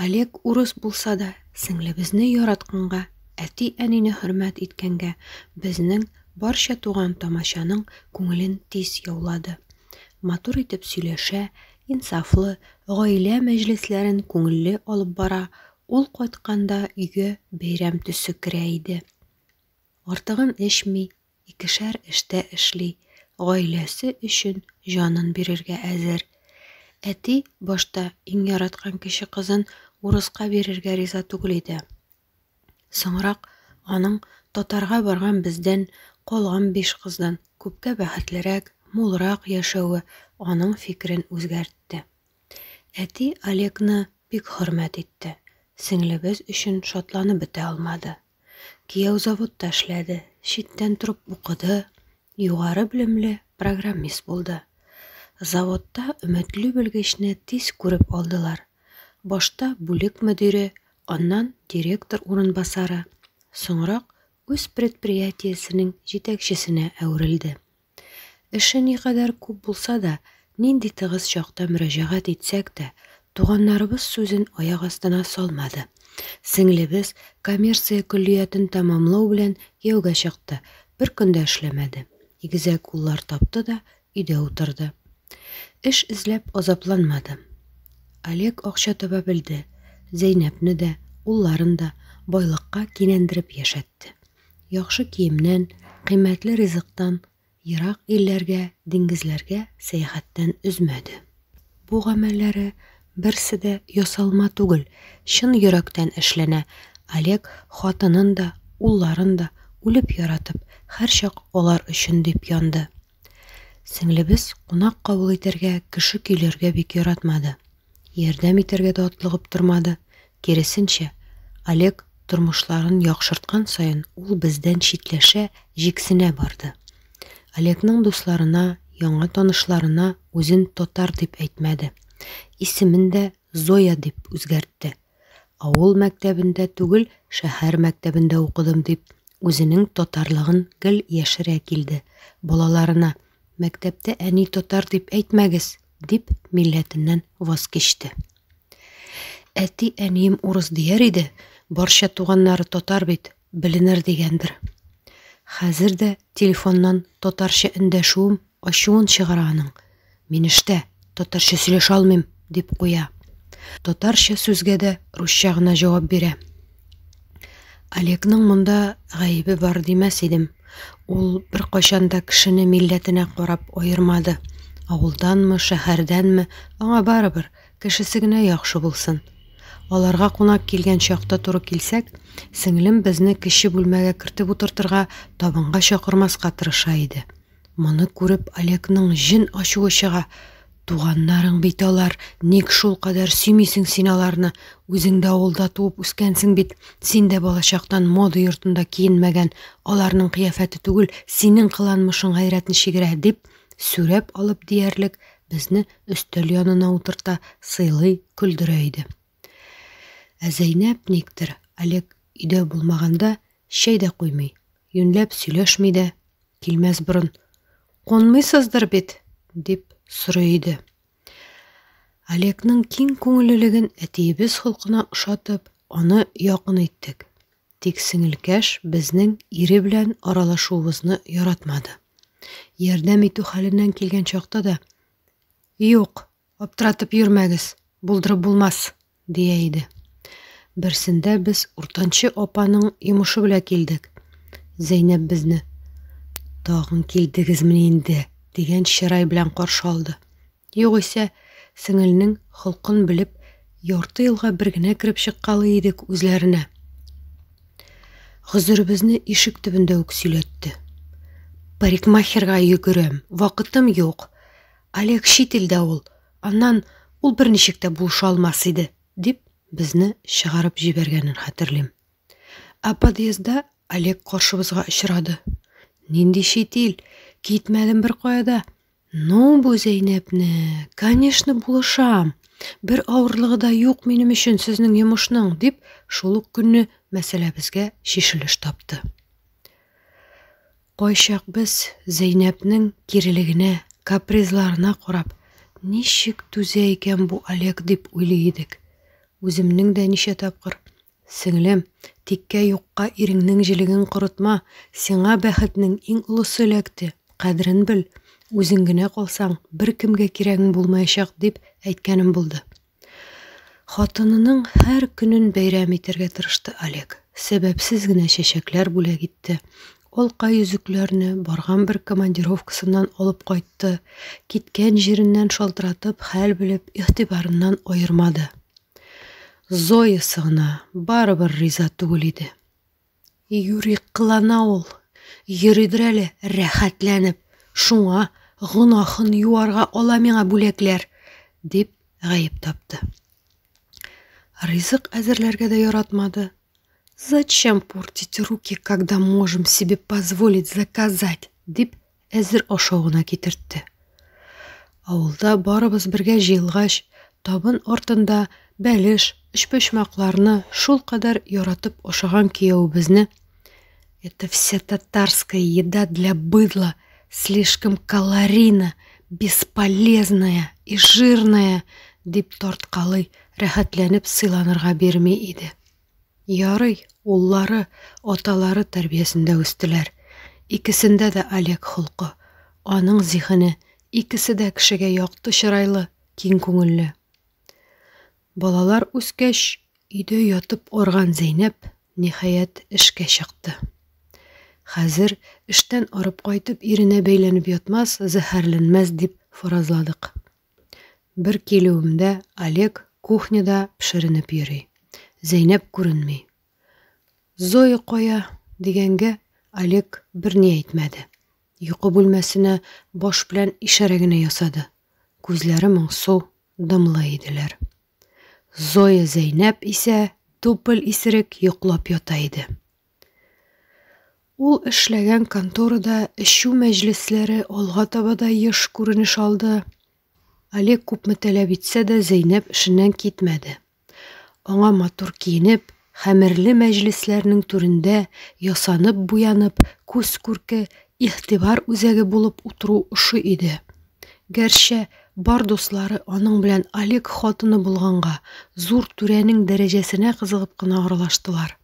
Олег урыс булса да, сеңлебезне яратканга, әти-әнине хөрмәт иткәнгә, безнең барча туган тамачаның күңелен тиз яулады. Матур итеп сөйләшә, инсафлы, гаилә мәҗлесләрен күңелле алып бара, ул кайтканда өйгә бәйрәм төсе керә иде. Артыгын эчми, икешәр эштә эшли, гаиләсе өчен җанын бирергә әзер. Әти башта иң яраткан кече кызын урыска бирергә риза түгел иде. Соңрак аның татарга барган бездән калган биш кыздан күпкә бәхетлерәк, мулрак яшәве аның фикерен үзгәртте. Әти Олегны бик хөрмәт итте, сеңлебез өчен шатланып бетә алмады. Кияү заводта эшләде, читтән торып укыды, югары белемле программист булды. Заводта өметле белгечне тиз күреп алдылар. Башта бүлек мөдире, аннан директор урынбасары, соңрак үз предприятиесенең җитәкчесенә әверелде. Эше никадәр күп булса да, нинди тыгыз чакта мөрәҗәгать итсәк тә, туганнарыбыз сүзен аяк астына салмады. Сеңлебез коммерция көллиятен тәмамлау белән кияүгә чыкты, бер көн дә эшләмәде. Игезәк уллар тапты да, өйдә утырды. Эш эзләп азапланмады. Олег акча таба белде, Зәйнәпне дә, улларын да байлыкка кинәндереп яшәтте. Яхшы киемнән, кыйммәтле ризыктан, ерак илләргә, диңгезләргә сәяхәттән өзмәде. Бу гамәлләре берсе дә ясалма түгел, чын йөрәктән эшләнә. Олег хатынын да, улларын да үлеп яратып, һәрчак алар өчен дип янды. Сеңлебез кунак кабул итәргә, кеше көйләргә бик яратмады. Ярдәм итәргә дә атлыгып тормады, киресенчә, Олег тормышларын яхшырткан саен ул бездән читләшә, җиксенә барды. Олегның дусларына, яңа танышларына үзен татар дип әйтмәде. Исемен дә Зоя дип үзгәртте. Авыл мәктәбендә түгел, шәһәр мәктәбендә укыдым дип, үзенең татарлыгын гел яшерә килде. Балаларына, мәктәптә әни татар дип әйтмәгез, дип милләтеннән ваз кичте. Әти әнием урыс дияр иде, барча туганнары татар бит, беленер дигәндер. Хәзер дә телефоннан татарча эндәшүем ачуын чыгара аның. Мин эштә, татарча сөйләшә алмыйм, дип куя. Татарча сүзгә дә русча гына җавап бирә. Олегның монда гаебе бар димәс идем. Ул беркайчан да кешене милләтенә карап аермады. Авылданмы, шәһәрдәнме, аңа барыбер, кешесе генә яхшы булсын. Аларга кунак килгән чакта туры килсәк, сеңлем безне кече бүлмәгә кертеп утыртырга, табынга чакырмаска тырыша иде. Моны күреп, Олегның җен ачуы чыга. Туганнарың бит алар, ник шул кадәр сөймисең син аларны? Үзең дә авылда туып үскәнсең бит. Син дә балачактан мода йортында киенмәгән. Аларның кыяфәте түгел, синең кыланмышың гайрәтне чигерә, дип, сүрәп алып диярлек, безне өстәл янына утырта, сыйлый, көлдерә иде. Ә Зәйнәп никтер Олег өйдә булмаганда чәй дә куймый, юньләп сөйләшми дә, килмәс борын, Кунмыйсыздыр бит? дип сорый иде. Олегның киң күңеллелеген әтиебез холкына ошатып, аны якын иттек. Тик сеңелкәш безнең ире белән аралашуыбызны яратмады. Ярдәм итү хәленнән килгән чакта да, Юк, Аптыратып йөрмәгез, булдырып булмас, дия иде. Берсендә без уртанчы апаның йомышы белән килдек. Зәйнәп безне тагын килдегезмени инде дигән чырай белән каршы алды. Югыйсә, сеңелнең холкын белеп, ярты елга бер генә кереп чыккалы идек үзләренә. Гозеребезне ишек төбендә үк сөйләтте. Парикмахерга йөгерәм, вакытым юк. Олег чит илдә ул, аннан ул берничек тә булыша алмас иде, дип, безне чыгарып җибәргәнен хәтерлим. Ә подъездда Олег каршыбызга очрады. Нинди чит ил? Китмәдем беркая да. Ну, бу Зәйнәпне, конечно, булышам. Бер авырлыгы да юк минем өчен сезнең йомышның, дип, шул ук көнне мәсьәләбезгә чишелеш тапты. Кайчак без Зәйнәбнең кирелегенә, капризларына карап, ничек түзә икән бу Олег дип уйлый идек. Үземнең дә ничә тапкыр, Сеңлем, тиккә-юкка иреңнең җелеген корытма, сиңа бәхетнең иң олысы эләкте, кадерен бел, үзең генә калсаң, беркемгә кирәгең булмаячак, дип әйткәнем булды. Хатынының һәр көнен бәйрәм итәргә тырышты Олег. Сәбәпсез генә чәчәкләр бүләк итте, алка йөзекләрне барган бер командировкасыннан алып кайтты, киткән җиреннән шалтыратып хәл белеп, игътибарыннан аермады. Зоясы гына барыбер риза түгел иде. Юри кылана ул. Йөридер әле рәхәтләнеп. Шуңа гөнаһын юарга ала миңа бүләкләр, дип гаеп тапты. Ризык әзерләргә дә яратмады. Зачем портить руки, когда можем себе позволить заказать, дип Әзер ашавына китертте. Авылда барыбыз бергә җыелгач, табын артында бәлеш, өчпочмакларны шул кадәр яратып ашаган киявебезне Это вся татарская еда для быдла, слишком калорийна, бесполезная и жирная, дип тарткалый, рәхәтләнеп сыйланырга бирми иде. Ярый, уллары, аталары тәрбиясендә үстеләр. Икесендә дә Олег холкы, аның зиһене, икесе дә кешегә якты чырайлы, киң күңелле. Балалар үскәч, өйдә ятып арган Зәйнәп, ниһаять, эшкә чыкты. Хәзер, эштән арып кайтып, иренә бәйләнеп ятмас, зәһәрләнмәс, дип фаразладык. Бер килүемдә Олег кухняда пешеренеп йөри. Зәйнәп күренми. Зоя кая? дигәнгә, Олег берни әйтмәде. Йокы бүлмәсенә баш белән ишарә генә ясады. Күзләре моңсу, дымлы иделәр. Зоя Зәйнәп исә тупл исерек йоклап ята иде. Ул эшләгән конторада эчү мәҗлесләре алга таба да еш күренеш алды. Олег күпме таләп итсә дә Зәйнәб эшеннән китмәде. Аңа матур киенеп, хәмерле мәҗлесләрнең түрендә ясанып-буянып, күз күрке, игътибар үзәге булып утыру ошый иде. Гәрчә, бар дуслары аның белән Олег хатыны булганга, зур түрәнең дәрәҗәсенә кызыгып кына аралаштылар.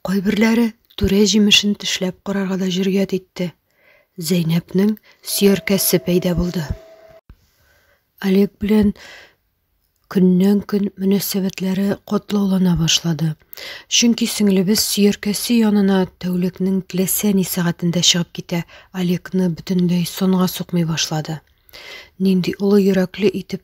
Кайберләре түрә җимешен тешләп карарга да җөрьәт итте. Зәйнәпнең сөяркәсе пәйда булды. Олег белән көннән-көн мөнәсәбәтләре катлаулана башлады. Чөнки сеңлебез сөяркәсе янына тәүлекнең теләсә ни сәгатендә чыгып китә, Олегны бөтенләй сонга сукмый башлады. Нинди олы йөрәкле итеп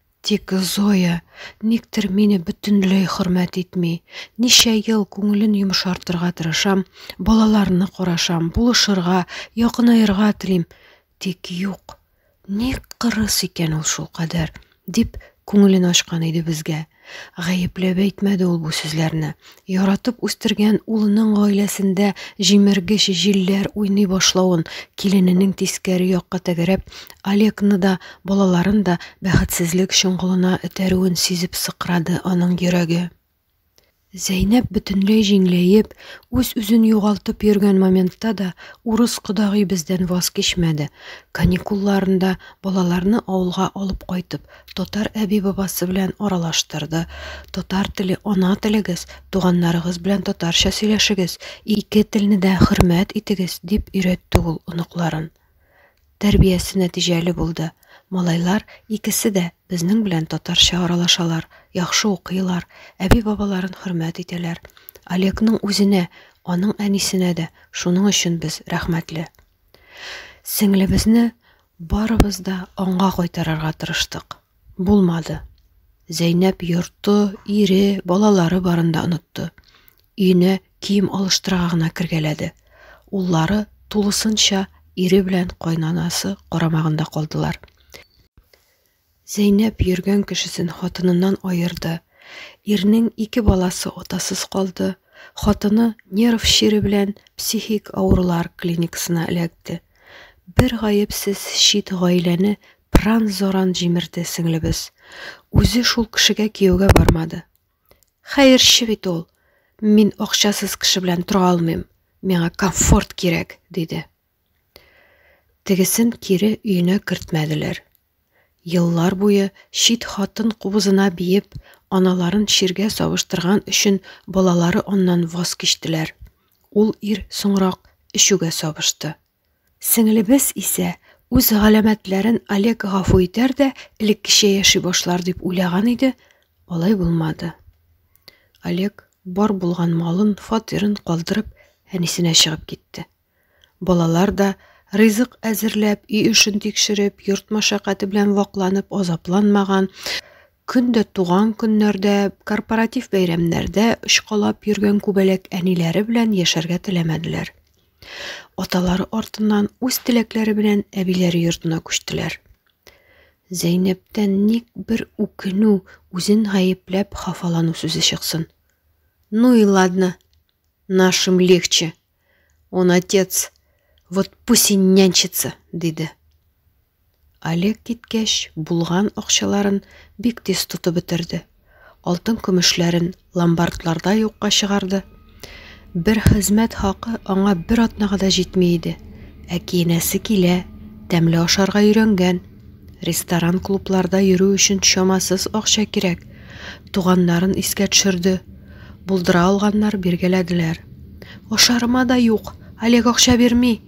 Тик Зоя никтер мине бөтенләй хөрмәт итми. Ничә ел күңелен йомшартырга тырышам, балаларны карашам, булышырга, якынаерга телим. Тик юк. Ник кырыс икән ул шул кадәр? дип күңелен ачкан иде безгә. Гаепләп әйтмәде ул бу сүзләрне. Яратып үстергән улының гаиләсендә җимергеч җилләр уйный башлавын, килененең тискәре якка тәгәрәп, Олегны да, балаларын да бәхетсезлек чоңгылына этәрүен сизеп сыкрады аның йөрәге. Зәйнәп бөтенләй җиңләеп, үз-үзен югалтып йөргән моментта да урыс кодагый бездән ваз кичмәде. Каникулларында балаларны авылга алып кайтып, татар әби-бабасы белән аралаштырды. Татар теле ана телегез, туганнарыгыз белән татарча сөйләшегез, ике телне дә хөрмәт итегез, дип өйрәтте ул оныкларын. Тәрбиясе нәтиҗәле булды. Малайлар икесе дә безнең белән татарча аралашалар, яхшы укыйлар, әби-бабаларын хөрмәт итәләр. Олегның үзенә, аның әнисенә дә шуның өчен без рәхмәтле. Сеңлебезне барыбыз да аңга кайтарырга тырыштык. Булмады. Зәйнәп йорты, ире, балалары барында онытты. Өенә кием алыштырырга гына кергәләде. Уллары тулысынча ире белән кайнанасы карамагында калдылар. Зәйнәб йөргән кешесен хатыныннан аерды. Ирнең ике баласы атасыз калды, хатыны нерв чире белән психик авырулар клиникасына эләкте. Бер гаепсез чит гаиләне пыран-заран җимерде сеңлебез. Үзе шул кешегә кияүгә бармады. Хәерче бит ул. Мин акчасыз кеше белән тора алмыйм. Миңа комфорт кирәк, диде. Тегесен кире өенә кертмәделәр. Еллар буе чит хатын кубызына биеп, аналарын чиргә савыштырган өчен балалары аннан ваз кичтеләр. Ул ир соңрак эчүгә сабышты. Сеңлебез исә үз галәмәтләрен Олег гафу итәр дә элеккечә яши башлар дип уйлаган иде, алай булмады. Олег бар булган малын, фатирын калдырып, әнисенә чыгып китте. Балалар да, ризык әзерләп, өй эшен тикшереп, йорт мәшәкате белән вакланып, азапланмаган, көн дә туган көннәрдә, корпоратив бәйрәмнәрдә очкалап йөргән күбәләк әниләре белән яшәргә теләмәделәр. Аталары артыннан үз теләкләре белән әбиләре йортына күчтеләр. Зәйнәптән ник бер үкенү, үзен гаепләп хафалану сүзе чыксын. Ну и ладно. Нашим легче, Он отец, вот пусть и нянчится, диде. Олег киткәч, булган акчаларын бик тиз тотып бетерде. Алтын көмешләрен ломбардларда юкка чыгарды. Бер хезмәт хакы аңа бер атнага да җитми иде. Ә киенәсе килә, тәмле ашарга өйрәнгән. Ресторан-клубларда йөрү өчен чамасыз акча кирәк. Туганнарын искә төшерде. Булдыра алганнар биргәләделәр. Ашарыма да юк. Олег акча бирми.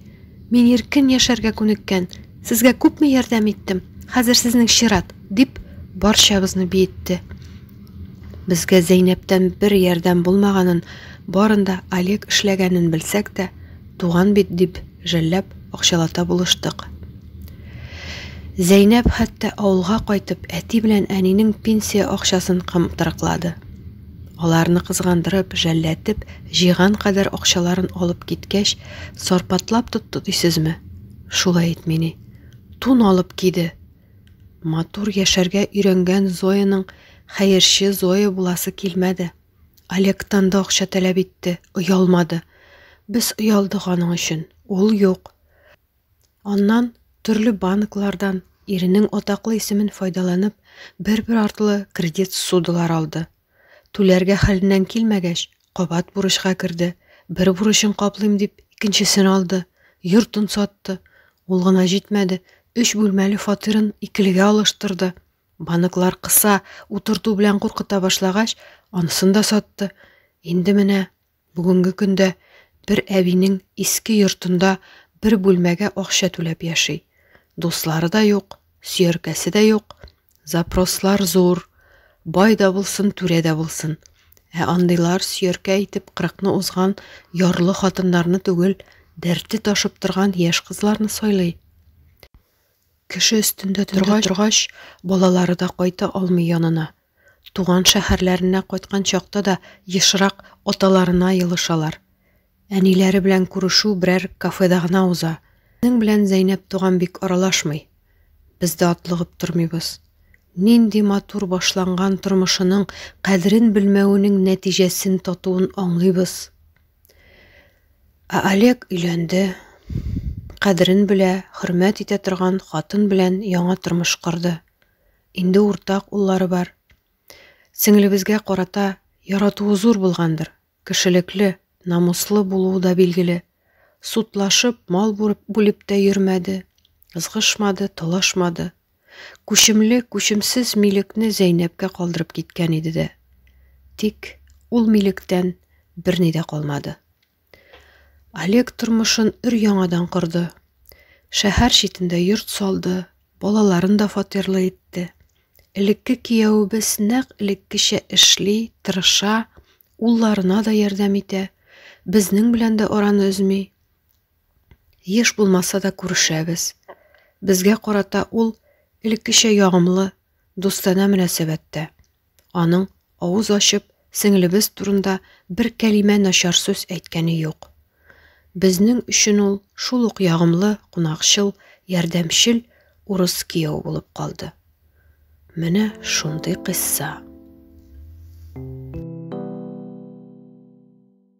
Мин иркен яшәргә күнеккән. Сезгә күпме ярдәм иттем. Хәзер сезнең чират, дип барчабызны биетте. Безгә Зәйнәптән бер ярдәм булмаганын, барында Олег эшләгәнен белсәк тә, Туган бит дип, жәлләп, акчалата булыштык. Зәйнәп хәтта авылга кайтып, әти белән әнинең пенсия акчасын кымтырыклады. Аларны кызгандырып, жәлләтеп, җыйган кадәр акчаларын алып киткәч, сарпатлап тотты дисезме? Шулай ит мени. Тун алып киде. Матур яшәргә өйрәнгән Зояның хәерче Зоя буласы килмәде. Олегтан да акча таләп итте, оялмады. Без оялдык аның өчен. Ул юк. Аннан төрле банклардан иренең атаклы исемен файдаланып, бер-бер артлы кредит судылар алды. Түләргә хәленнән килмәгәч, кабат бурычка керде. Бер бурычын каплыйм дип, икенчесен алды. Йортын сатты. Ул гына җитмәде, өч бүлмәле фатирын икелегә алыштырды. Банклар кыса, утырту белән куркыта башлагач, анысын да сатты. Инде менә бүгенге көндә бер әбинең иске йортында бер бүлмәгә акча түләп яши. Дуслары да юк, сөяркәсе дә юк. Запрослар зур. Бай да булсын, түрә дә булсын. Ә андыйлар сөяркә итеп кырыкны узган ярлы хатыннарны түгел, дәрте ташып торган яшь кызларны сайлый. Кеше өстендә торгач, балалары да кайта алмый янына. Туган шәһәрләренә кайткан чакта да ешрак аталарына елышалар. Әниләре белән күрешү берәр кафеда гына уза. Безнең белән Зәйнәп туган бик аралашмый. Без дә атлыгып тормыйбыз. Нинди матур башланган тормышының кадерен белмәвенең нәтиҗәсен татуын аңлыйбыз. Ә Олег өйләнде. Кадерен белә, хөрмәт итә торган хатын белән яңа тормыш корды. Инде уртак уллары бар. Сеңлебезгә карата яратуы зур булгандыр. Кешелекле, намуслы булуы да билгеле. Сутлашып, мал бүреп, бүлеп тә йөрмәде. Ызгышмады, талашмады. Күчемле, күчемсез милекне Зәйнәпкә калдырып киткән иде дә. Тик ул милектән берни дә калмады. Олег тормышын өр яңадан корды. Шәһәр читендә йорт салды, балаларын да фатирлы итте. Элекке кияүебез нәкъ элеккечә эшли, тырыша, улларына да ярдәм итә, безнең белән дә араны өзми, Еш булмаса да күрешәбез. Безгә карата ул элеккечә ягымлы, дустанә мөнәсәбәттә. Аның авыз ачып, сеңлебез турында бер кәлимә начар сүз әйткәне юк. Безнең өчен ул шул ук ягымлы, кунакчыл, ярдәмчел урыс кияү булып калды. Менә шундый кыйсса.